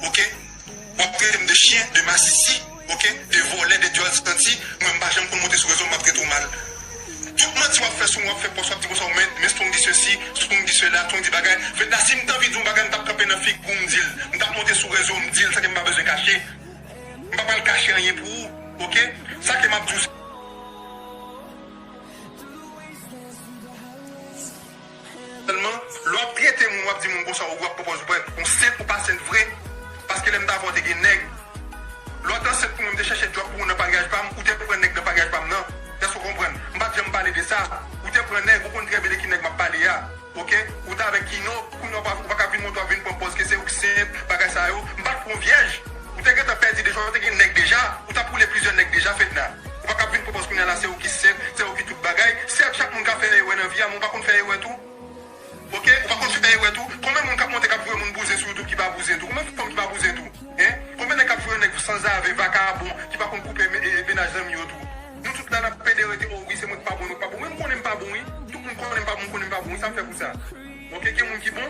ok wap traitem de chien de masisi ok de volè de dyòl santi mwen mpa janm konn monte sou rezo map trete w mal tout manti wap fè sou mwen wap fè pòs wap di konsa ou mèt men strong di sesi strong di sela strong di bagay fedna sim t anvi di yon bagay mtap kanpe nan figou mdil mtap monte sou rezo mdil sa ke mpa bezwen kache mpa pral kache anyen pou ou ok sa ke map di w se. Sèlman lè wap trete moun wap di moun konsa ou wap pwopòz ou pwè ou sent ou pa sent vre paske lèm t avèw te gen nèg lè w t ansent pou mwen m te chèche djòb pou ou nan paryaj pam ou te pran nèg nan paryaj pam nan èske ou konprann m pat janm pale de sa ou te pran nèg ou konn trè byen de ki nèg map pale a ok ou t avèk kino kounya ou pa ou paka vin montre wap vin pran pòz ke se ou k sent bagay sa yo m pat pran w vyèj ou te gentan pèdi deja ou te gen nèg deja ou tap woule plizyè nèg deja Fedna. Ou pa kab vin pwopòz kounya la se ou ki sèt, se ou ki tout bagay, sèt chak moun ka fè erè nan vi a men ou pa konn fè erè tou ok ou pa konn fè erè tou konbyen moun kap monte kap voye moun bouzen sou youtube ki pa bouzen tou konbyen fanm ki pa bouzen tou hein konbyen nèg kap voye nèg sanzave vakabon ki pa konn koupe mennaj zanmi yo tou nou tout la nap pede rete oh wi se mwen ki pa bon mwen ki pa bon men m konnen m pa bon wi tout moun konnen m pa bon m konnen m pa bon wi sam fè pou sa ok gen moun ki bon.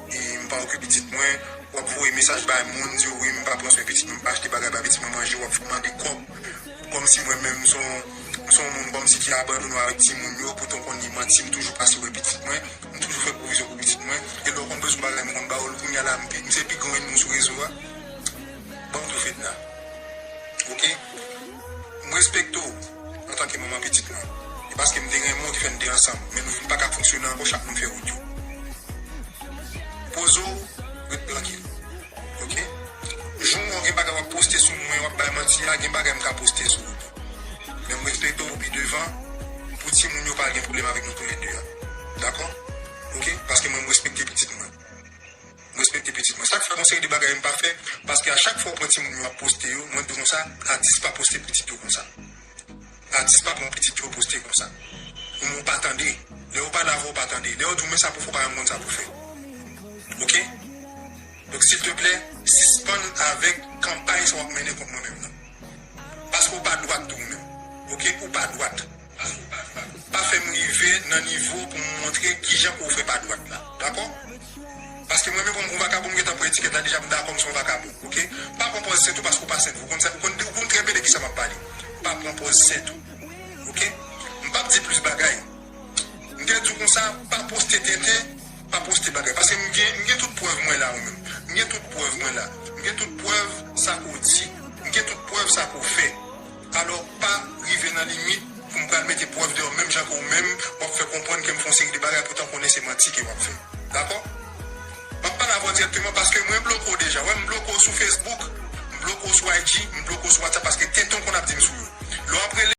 M pa okupe pitit mwen. W ap voye mesaj bay moun, di yo wi m pa pran swen pitit mwen, m pa achte bagay bay pitit mwen manje, w ap mande kòb. Kòmsi mwen menm m se yon moun kòmsi ki abandone w avèk timoun yo, poutan w konn li manti m toujou pase wè pitit mwen, m toujou fè pwovizyon pou pitit mwen. E lè w konn bezwen yon bagay m konn ba w l, kounya la m se pi gran ènmi w sou rezo a? Ban m tou Fedna. Ok. M respekte w antanke manman pitit mwen. E paske m te renmen w ki fè n te ansanm. Men nou vin pa ka fonksyone ankò chak moun fè wout yo. Poze w, ret trankil. Ok. Jou ou gen bagay w ap poste sou mwen, w ap bay manti a, gen bagay m ka poste sou ou tou. Men m respekte w pi devan pou timoun yo pa al gen pwoblèm avèk nou toulède a. Dakò? Ok. Paske mwen m respekte pitit mwen. M respekte pitit mwen. Sa k fè gon seri de bagay m pa fè, paske a chak fwa ou pran timoun yo ap poste yo, mwen di konsa, atis pa poste pitit yo konsa. Atis pa pran pitit yo poste konsa. Ou menm ou pa tande. Lè yo pale avè w ou pa tande. Lè yo di w men sa pou w fè ou pa janm konn sa pou w fè. Ok? Donk silteplè, sispann avèk kanpay sa w ap mennen kont mwen menm nan. Paske ou pa dwat tou ou menm. Ok? Ou pa dwat. Pa fè m rive nan nivo pou m montre ki jan ou vre pa dwat la. Dakò? Paske mwen menm kòm yon vakabon m gentan pran etikèt la deja m dakò m se yon vakabon. Ok? Pa pran pòz sèt ou paske ou pa sèt. Ou konn sa ou konn ou konn trè byen de ki sa m ap pale. Pa pran pòz sèt ou. Ok? M pap di plis bagay. M te di w kon sa pa poste tenten, pa poste bagay. Paske m gen m gen tout prèv mwen la ou menm. M gen tout prèv mwen la. M gen tout prèv sa ke w di. M gen tout prèv sa ke w fè. Alò pa rive nan limit pou m pral mete prèv deyò menm jan ke ou menm w ap fè konprann ke m fè yon seri de bagay poutan w konnen se manti ke w ap fè. Dakò? M ap pale avè w dirèkteman paske mwen bloke w deja. Ou wè m bloke w sou Facebook, m bloke w sou IG, m bloke w sou WhatsApp paske tenten w konn ap di m sou yo. Lè w ap rele.